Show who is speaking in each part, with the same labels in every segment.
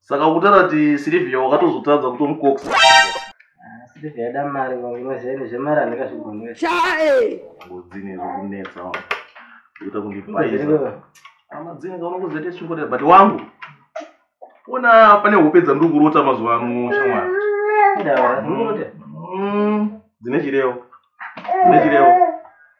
Speaker 1: saka kutara ti silivia wakatozotadza kutomukoksa silivia yada mari vanginoziva zvemari handikazvigonera chae ngodzini zvokunetsa kuita kundipaisa amadzini kaunokuzete chingorera but wangu ona pane hope dzandiri kurota mazuva ano shamwari mm. mm. dzine chirevo dzine chirevo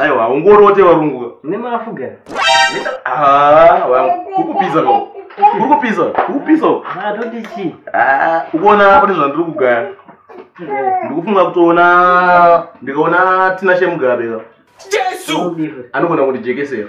Speaker 1: aiwa haungorote varungu nemafuga ah, ukupisa ko ukupisa ukupisa atoti ah, chii ah, ukuona pane zvandiri kugaya ndikufunga kutoona ndikaona tina shemugabe ka jesu anogona kundijekesera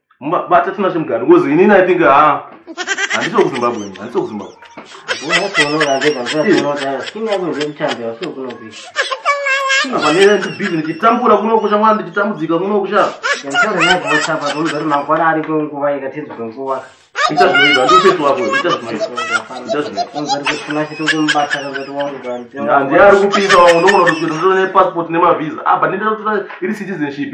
Speaker 1: bata tinashe mugari because inini i think ha handisi wekuzimbabwe ini handisi wekuzimbabwe apanendibizi ndichitambura kuno kusha mwana ndichitambudzika kuno kusha ita zvinoita ndifesi wako ita zvinoitaandiari kupisa wangu ndoona kuti kuita ndotonepassport nemavhiza apa ah, ndindaa iri citizenship